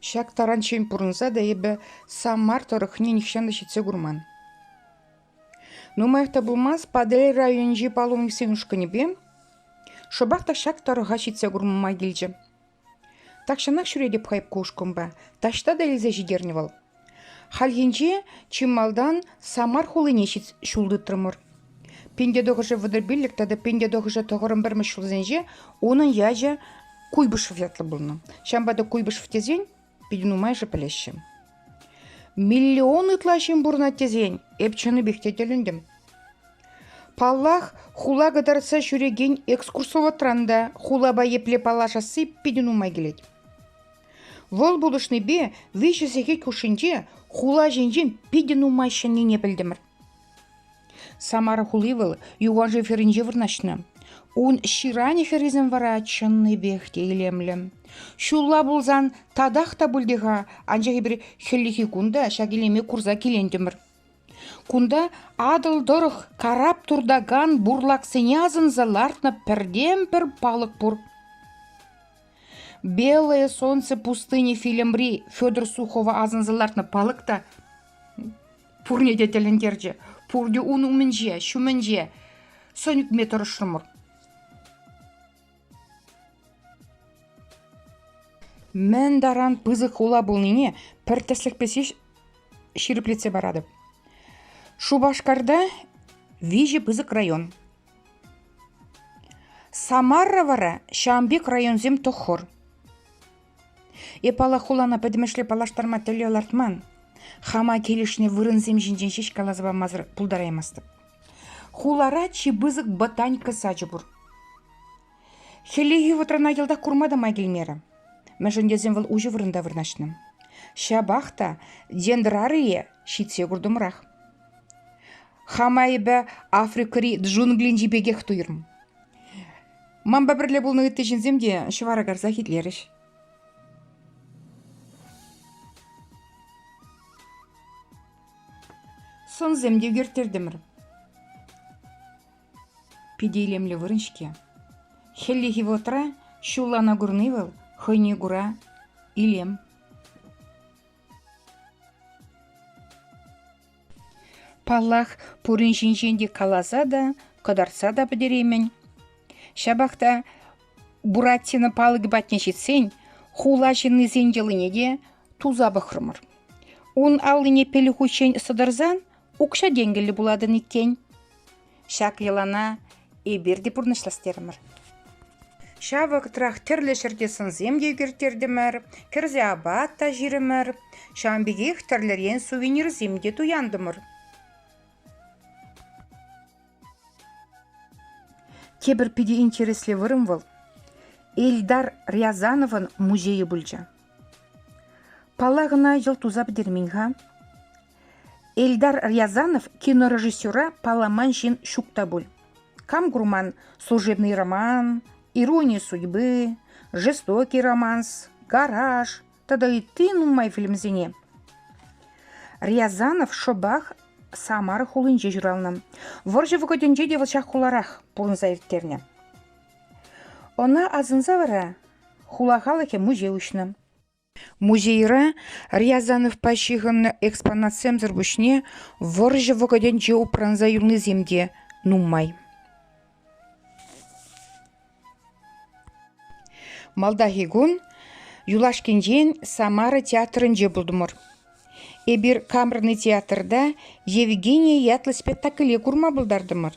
Ҫак таранччен пурӑнса та эпӗ Самар тӑрӑхне нихҫан та ҫитсе курман. Нумаях та пулмасть Патӑрьел районӗнчи паломниксен ушкӑнӗпе шӑпах та ҫак тӑрӑха ҫитсе курма килчӗ. Тахҫанах ҫӳретӗп хайп ку ушкӑнпа, таҫта та илсе ҫитернӗ вӑл. Хальхинче чи малтан Самар хулине ҫул тытрӑмӑр. Пентетӑхӑшӗ вӑтӑрпиллӗк тата Пентетӑхӑшӗ тӑхӑрӑн пӗрмӗш ҫулсенче унӑн ячӗ Куйбышев ятлӑ пулнӑ. Ҫавӑнпа та Куйбышев тесен питӗ нумайӑшӗ пӗлеҫҫӗ. Миллион ытла ҫын пурӑнать тесен эп чӑннипех те тӗлӗнтӗм. Паллах, хула кӑтартса ҫӳрекен экскурсоводран та хулапа епле паллашасси питӗ нумай килет. Вӑл пулӑшнипе виҫӗ сехет хушшинче хула ҫинчен питӗ нумай ҫӗннине пӗлтӗмӗр. Самара хули вӑл юваншыв хӗрринче вырнаҫнӑ. Ун ҫыранӗ хӗррисем вара чӑннипех те илемлӗ. Ҫулла пулсан татах та пуль те-ха, анчах эпир хӗллехи кун та ҫак илеме курса килентӗмӗр. Кунта Атӑл тӑрӑх карап туртакан бурлаксене асӑнса лартнӑ пӗртен-пӗр палӑк пур. «Белое солнце пустыни» фильмри Федор Сухова асӑнса лартнӑ палӑк та пурне те тӗлӗнтерчӗ. Пурте ун умӗнче, ҫумӗнче сӑн ӳкме тӑрӑшрӑмӑр. Мӗн таран пысӑк хула пулнине пӗр тӗслӗхпе ҫирӗплетсе паратӑп. Шупашкарта виҫӗ пысӑк район. Самара вара ҫавӑн пек районсем тӑххӑр. Эп паллах хулана пӗтӗмӗшле паллаштарма тӗллев лартман. Хама килӗшнӗ вырӑнсем ҫинчен ҫеҫ каласа памасӑр пултараймастӑп. Хулара чи пысӑк ботаника сачӗ пур. Хӗллехи вӑхӑтрана йӑлтах курма та май килмерӗ. Мӗншӗн тесен вӑл уҫӑ вырӑнта вырнаҫнӑ. Ҫапах та дендрарие ҫитсе куртӑмрах. Хама эпӗ Африкӑри джунглинчи пекех туйрӑм. Манпа пӗрле пулнӑ ытти ҫынсем те ҫӑвара карсах итлерӗҫ. Сӑнсем те ӳкерттертӗмӗр. Питӗ илемлӗ вырӑн-ҫке. Хӗллехи вӑхӑтра ҫуллана курни вӑл хӑйне кура илем. Паллах, пурин ҫинчен те каласа та, кӑтартса та пӗтереймӗн. Ҫапах та Буратино палӑкӗ патне ҫитсен хула ҫыннисен йӑлине те туса пӑхрӑмӑр. Ун аллине пилӗк хутчен сӑтӑрсан укҫа-тенкӗллӗ пулатӑн иккен. Ҫак йӑлана эпир те пурнӑҫлас терӗмӗр. Ҫав вӑхӑтрах тӗрлӗ ҫӗрте сӑнсем те ӳкерттертӗмӗр, кӗрсе апат та ҫирӗмӗр. Ҫавӑн пекех тӗрлӗрен сувенирсем те туянтӑмӑр. Тепӗр питӗ интереслӗ вырӑн вӑл Эльдар Рязановӑн музейӗ пулчӗ. Паллах ӑна йӑл туса пӗтермен-ха. Эльдар Рязанов кинорежиссера палламан ҫын ҫук та пуль. Кам курман «Служебный роман», «Ирония судьбы», «Жестокий романс», «Гараж» тата ытти нумай фильмсене. Рязанов шӑпах Самар хулинче ҫуралнӑ. Вӑрҫӑ вӑхӑтӗнче те вӑл ҫак хуларах пурӑнса ирттернӗ. Ӑна асӑнса вара хула халӑхӗ музей уҫнӑ. Музейра Рязановпа ҫыхӑннӑ экспонатсемсӗр пуҫне вӑрҫӑ вӑхӑтӗнче упранса юлнисем те нумай. Малтанхи кун юлашкинчен Самара театрӗнче пултӑмӑр. Эпир Камерный театрта Евгения ятлӑ спектакле курма пултартӑмӑр.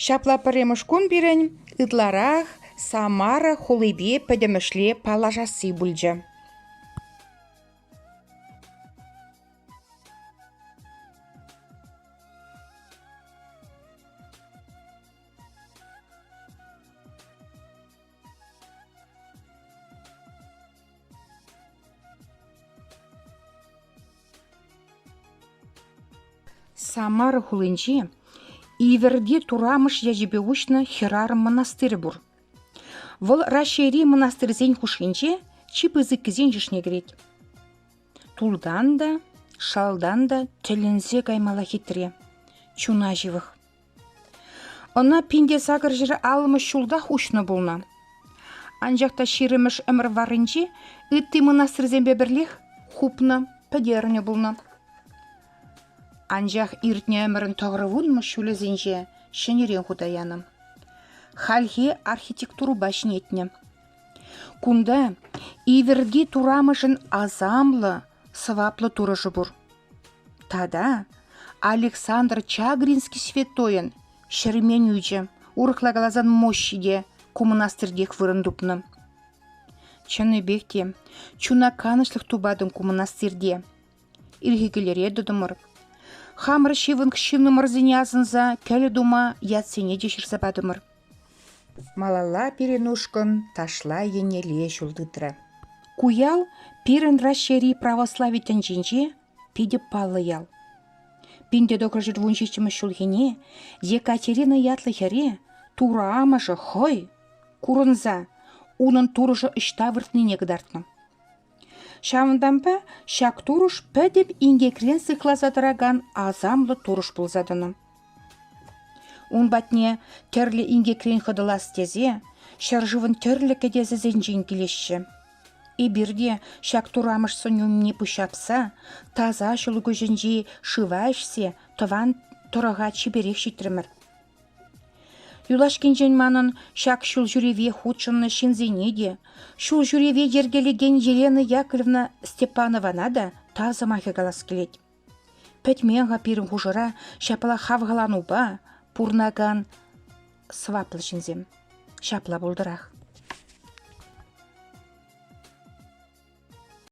Ҫапла пӗрремӗш кун пирӗн ытларах Самара хулипе пӗтӗмӗшле паллашасси пулчӗ. Самара хулинчи Иверди Турамыш ячӗпе уҫнӑ хӗрарӑм мӑнастырӗ пур. Вӑл Раҫҫейри мӑнастырсен хушшинче чи пысӑккисен йышне кӗрет. Тултан та, шалтан та тӗлӗнсе каймала хитре, чуна ҫывӑх. Ӑна пин те сакӑр ҫӗр аллӑмӗш ҫултах уҫнӑ пулнӑ. Анчах та ҫирӗмӗш ӗмӗр варринче ытти мӑнастырсемпе пӗрлех хупнӑ, пӗтернӗ пулнӑ. Анчах иртнӗ ӗмӗрӗн тӑврӑвунмӑш ҫулӗсенче ҫӗнӗрен хута янӑ. Хальхи архитектурӑпа ҫӗнетнӗ. Кунта Иверди турамӑшӗн асамлӑ, сӑваплӑ турӑшӗ пур. Тата Александр Чагринский святойӑн ҫӗрмен ӳчӗ, урӑхла каласан мощи те ку мӑнастиртех вырӑн тупнӑ. Чӑннипех те чуна канӑҫлӑх тупатӑн ку мӑнастирте. Ирхи кӗлере тӑтӑмӑр. Хамӑр ҫывӑх ҫыннӑмӑрсене асӑнса кӗлӗ тума ятсене те ҫырса патӑмӑр. Малалла пирӗн ушкӑн ташла еннелле ҫул тытрӗ. Ку ял пирӗн Раҫҫейри православи тӗнчинче питӗ паллӑ ял. 1526 ҫулхине Екатерина ятлӑ хӗре Турӑ амӑшӗ хӑй курӑнса унӑн турӑшӗ ӑҫта выртнине кӑтартнӑ. Ҫавӑнтанпа ҫак турӑш пӗтӗм инкекрен сыхласа тӑракан асамлӑ турӑш пулса тӑнӑ. Ун патне тӗрлӗ инкекрен хӑтӑлас тесе ҫӗршывӑн тӗрлӗ кӗтесӗсенчен килеҫҫӗ. Эпир те ҫак турамӑш сӑнӳ умне пуҫҫапса таса ҫӑлкуҫӗнчи шыва ӗҫсе тӑван тӑрӑха чиперех ҫитрӗмӗр. Юлашкинчен манӑн ҫак ҫулҫӳреве хутшӑннӑ ҫынсене те, ҫулҫӳреве йӗркелекен Елена Яковлевна Степанована та тав сӑмахӗ калас килет. Пӗтмен-ха пирӗн хушӑра ҫапла хавхаланупа пурӑнакан сӑваплӑ ҫынсем. Ҫапла пултӑрах.